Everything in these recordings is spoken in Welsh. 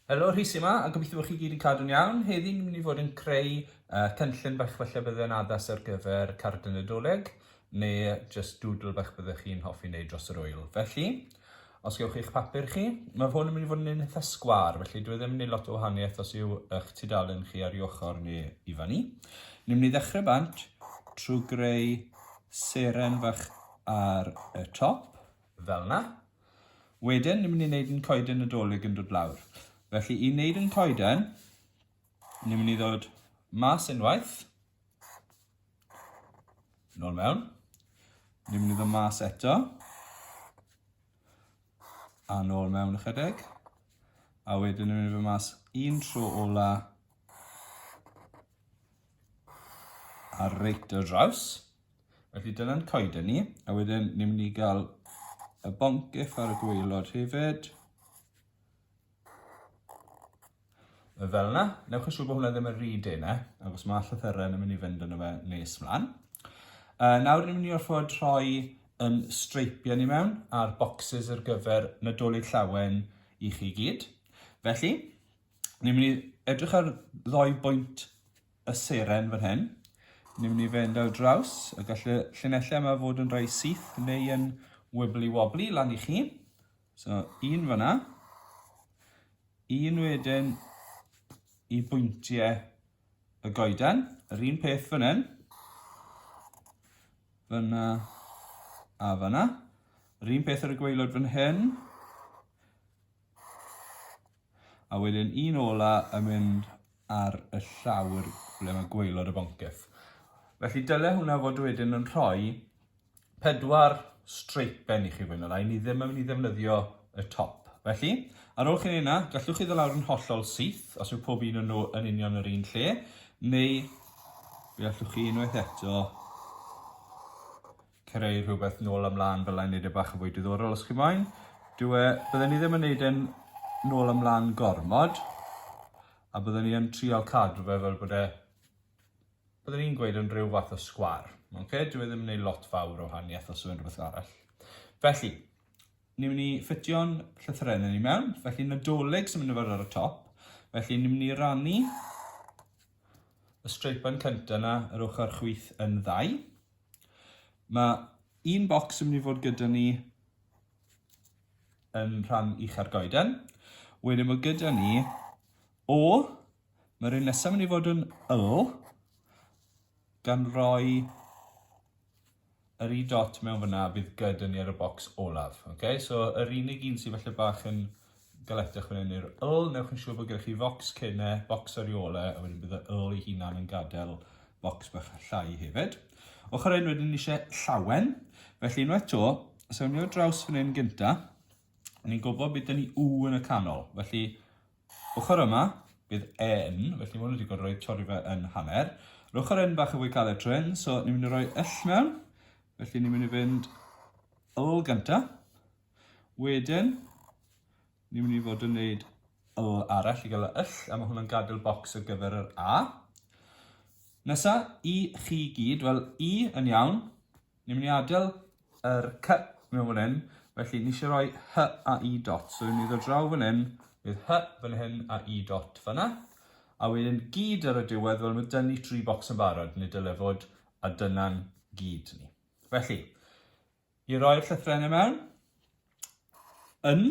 Helo Rhys yma, a gobeithio bod chi gyd yn cadw'n iawn. Heddi ni'n mynd i fod yn creu uh, cynllun bach falle bydde'n addas ar gyfer card y Nadolig, neu just doodle bach byddech chi'n hoffi wneud dros yr wyl. Felly, os gewch chi'ch papur chi, mae hwn yn mynd i fod yn un eitha sgwar, felly dwi e ddim yn mynd i lot o wahaniaeth os yw eich tudalen chi ar i ochr neu i fan i. Ni'n mynd i ddechrau bant trwy greu seren fach ar y top, fel 'na. Wedyn, ni'n mynd i wneud yn coeden Nadolig yn dod lawr. Felly, i wneud yn coeden, ni'n mynd i ddod mas unwaith, nôl mewn, ni'n mynd i ddod mas eto, a nôl mewn ychydig, a wedyn ni'n mynd i ddod mas un tro ola, a reit o draws. Felly dyna'n coeden ni, a wedyn ni'n mynd i gael y boncyff ar y gweilod hefyd. Fel yna, newch yn siŵr bod hwnna ddim yn rhy dena, ac os mae llythyren yn mynd i fynd yn y fe nes mlaen. Uh, nawr ni'n mynd i orfod rhoi yn streipiau ni mewn a'r boxes ar gyfer nadolig llawen i chi gyd. Felly, ni'n mynd i edrych ar ddoi bwynt y seren fan hyn. Ni'n mynd i fynd ar draws y gallu llinellau yma fod yn rhai syth neu yn wibbly wobbly lan i chi. So, un fyna. Un wedyn i bwyntiau y goeden. Yr un peth fan hyn. Fyna a fyna. Yr un peth ar y gweilod fan hyn. A wedyn un ola yn mynd ar y llawr ble mae gwaelod y boncyff. Felly dyle hwnna fod wedyn yn rhoi pedwar streipen i chi fwy na lai, ni ddim yn mynd i ddefnyddio y top. Felly, ar ôl chi'n ei na, gallwch chi ddolawr yn hollol syth, os yw pob un yn nhw yn union yr un lle, neu fe allwch chi unwaith eto creu rhywbeth nôl a mlaen fel a'n neud e bach yn fwy diddorol os chi moyn. Dw e, byddwn ni ddim yn neud e'n nôl a mlaen gormod, a byddwn ni yn trial cadw fe fel bod e, byddwn ni'n gweud yn rhyw fath o sgwar. Okay? Dw e ddim yn neud lot fawr o haniaeth os yw'n rhywbeth arall. Felly, ni'n mynd i ffitio'n llythrenau ni mewn, felly nadolig sy'n mynd i fod ar y top, felly ni'n mynd i rannu y streipan cyntaf yna yr ochr chwyth yn ddau. Mae un bocs yn mynd i fod gyda ni yn rhan ucha'r goeden. Wedyn mae gyda ni O, mae'r un nesaf yn mynd i fod yn L, gan roi yr i dot mewn fyna fydd gyda ni ar y bocs olaf. Okay? So yr unig un sydd falle bach yn Gallech ysgrifennu'r yl, newch yn siŵr bod gennych chi focs cyn e, bocs ar ei ôl e, a wedyn bydd y yl ei hunan yn gadael bocs bach llai hefyd. Ochr hyn wedyn ni eisiau llawen, felly unwaith to, os ewn ni o draws fan hyn gynta, ni'n gwybod bydd ni u yn y canol, felly ochr yma bydd e yn, felly mwyn wedi digon rhoi torri fe yn hanner. Yr ochr yn bach yn fwy caled tro hyn, so ni'n mynd i roi yll mewn, felly ni'n mynd i fynd yl gynta, Wedyn, ni'n mynd i fod yn neud yl arall i gael y yll, a mae hwnna'n gadael bocs ar gyfer yr a. Nesa, i chi gyd, wel, i yn iawn, ni'n mynd i adael yr cy mewn fan hyn, felly ni eisiau rhoi hy a i dot, so ni'n mynd i ddod draw fan hyn, bydd hy fan hyn a i dot fanna, a wedyn gyd ar y diwedd, wel, mae dynnu tri bocs yn barod, nid dyle fod, a dyna'n gyd ni. Felly, I roi'r llythrennau mewn. Yn.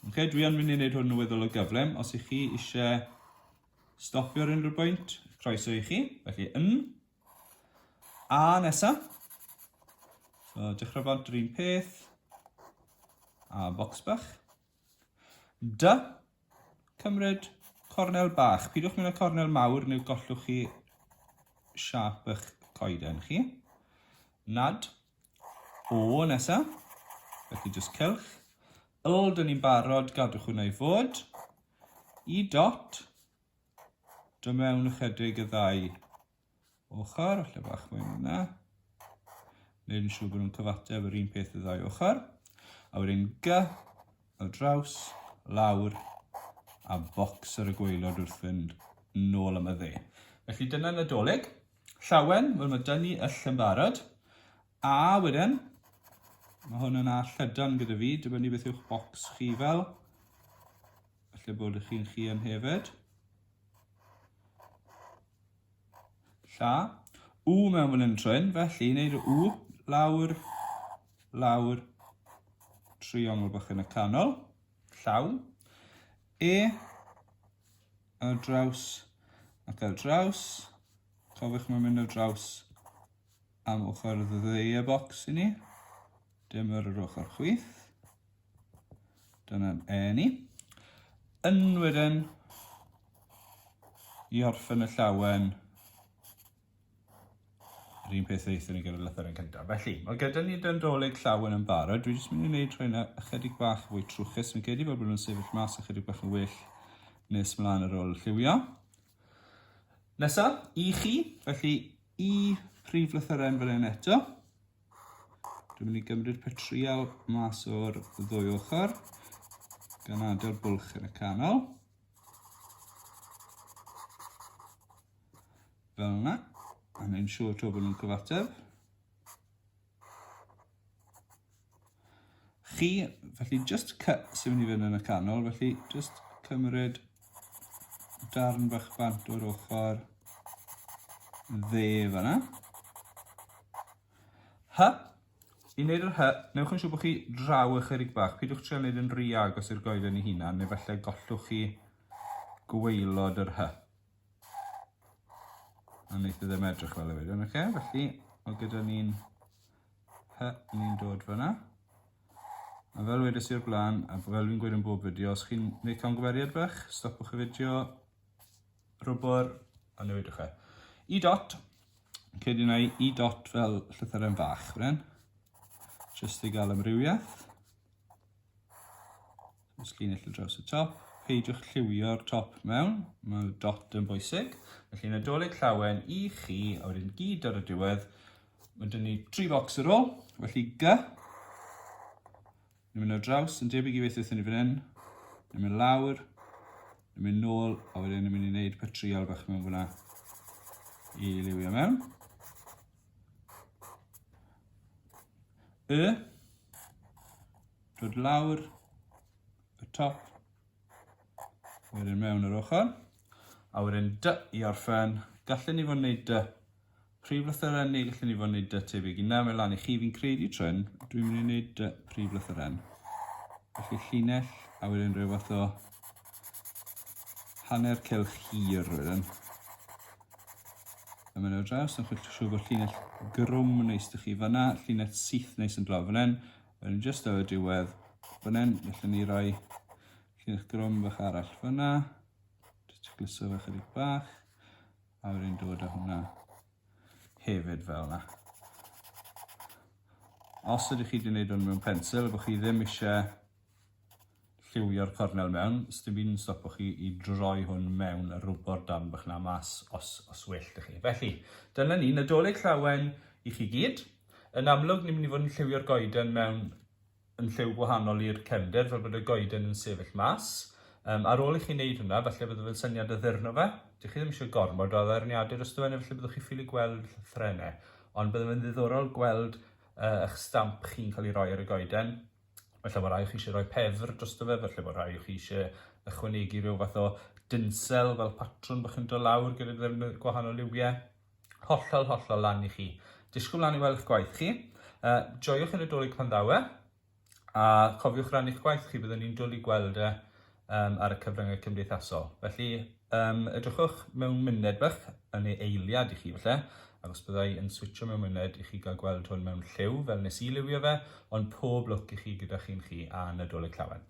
Okay, dwi yn mynd i wneud hwn yn weddol o gyflym. Os ych chi eisiau stopio ar unrhyw bwynt, croeso i chi. Felly, yn. A nesaf. So, dechrau bont yr un peth. A bocs bach. D. Cymryd cornel bach. Pidiwch mynd â cornel mawr neu gollwch chi siap eich coeden chi. Nad. O nesa. Felly jyst cylch. Yl, dyn ni'n barod, gadwch hwnna i fod. I dot. Dymewn ychydig y ddau ochr, lle bach mwy yna. Neud yn siŵr bod nhw'n cyfateb yr un peth y ddau ochr. A wedyn gy, o draws, lawr, a bocs ar y gweilod wrth fynd nôl am y dde. Felly dyna Nadolig. Llawen, wel mae dynnu yll yn barod. A wedyn, mae hwn yna llydan gyda fi, dibynnu beth yw'ch bocs chi fel. Felly bod chi'n chi yn hefyd. Lla. U mewn fan hyn trwyn, felly wneud y U lawr, lawr, triongl bach yn y canol, llaw. E, ar draws ac ar draws. Cofiwch mae'n mynd ar draws am ochr y ddeie bocs i ni. Dyma'r yr ochr chwith. Dyna'n e ni. Ynwyren i orffen y llawen yr un peth reithon ni gyda'r lythyr yn cyntaf. Felly, mae gyda ni dyndolig llawen yn barod. Dwi jyst mynd i wneud rhain ychydig bach fwy trwchus. Fi'n credu bod nhw'n sefyll mas ychydig bach yn well nes mlaen ar ôl lliwio. Nesaf, i chi. Felly, i prif lythyren fan hyn eto. Dwi'n mynd i gymryd petrial mas o'r ddwy ochr, gan adael bwlch yn y canol. Fel yna, a neu'n siŵr to bod nhw'n cyfateb. chi. Felly jyst sy'n mynd i fynd yn y canol, felly jyst cymryd darn bach bant o'r ochr dde fanna. Hy. I wneud yr hy, newch yn siŵr bod chi draw ychydig bach. Pidwch trio wneud yn rhy agos i'r goeden i hunan, neu falle gollwch chi gweilod yr hy. a wneith e ddim edrych fel y wedyn, oce? Okay? Felly, mae gyda ni'n hy ni'n dod fyna. A fel wedys i'r blaen, a fel fi'n gweud yn bob fideo, os chi'n gwneud camgymeriad bach, stopwch y fideo, rwbwr, a newidwch e. I dot, cyd i'n ei i dot fel llythyrau fach, wren, jyst i gael amrywiaeth. Os llinell y draws y top, peidiwch lliwio'r top mewn, mae dot yn bwysig. Felly nadolig llawen i chi, a wedyn gyd ar y diwedd. Mae dyn ni tri bocs ar ôl, felly G. Ni'n mynd o draws, yn debyg i beth wrthyn ni fan hyn. Ni'n mynd lawr, ni'n mynd nôl, a wedyn ni'n mynd i wneud patrial bach mewn fyna i liwio mewn. Y, dod lawr y top, wedyn mewn yr ochr, a wedyn dy i orffen, gallen ni fod yn gwneud dy prif lythyren ni, gallen ni fod yn gwneud dy tebyg i na, mae lan i chi, fi'n credu tryn, dwi'n mynd i wneud dy prif lythyren. Felly llinell, a wedyn rhyw fath o Hanner cylch hir oedd yn. Yma nawr draws, yn chwilch siw bod llinell grwm neis dych chi fyna, llinell syth neis yn draw fan Yn just o y diwedd fan hyn, felly ni roi llinell grwm fach arall fyna. Just glyso fe chydig bach. A wedyn dod â hwnna hefyd fel yna. Os ydych chi wedi gwneud hwn mewn pensil, bod chi ddim eisiau lliwio'r cornel mewn, sdim byd yn stopo chi i droi hwn mewn a rwbo'r darn bach na mas os, os well da chi. Felly, dyna ni, Nadolig Llawen i chi gyd. Yn amlwg, ni'n mynd i fod yn lliwio'r goeden mewn yn lliw gwahanol i'r cefnder, fel bod y goeden yn sefyll mas. Um, ar ôl i chi wneud hwnna, falle bod fe'n syniad o ddyrno fe. Dych chi ddim eisiau gormod o addurniadau dros dywen, efallai byddwch chi ffili gweld llythrenau. Ond byddai'n ddiddorol gweld uh, eich stamp chi'n cael ei roi ar y goeden. Falle bod rhai o chi eisiau rhoi pefr dros fe, falle bod rhai o chi eisiau ychwanegu rhyw fath o dynsel fel patrwn bod chi'n dod lawr gyda ddefnydd gwahanol liwiau. Hollol, hollol lan i chi. Disgwyl lan i weld eich gwaith chi. Uh, joiwch y Nadolig pan ddaw e, a cofiwch rannu'ch gwaith chi, byddwn ni'n dwlu gweld e um, ar y cyfryngau cymdeithasol. Felly, um, edrychwch mewn myned bach yn ei eiliad i chi, felly, ac os byddai yn switcho mewn myned i chi gael gweld hwn mewn lliw, fel nes i liwio fe, ond pob lwc i chi gyda chi'n chi a Nadolig Llawen.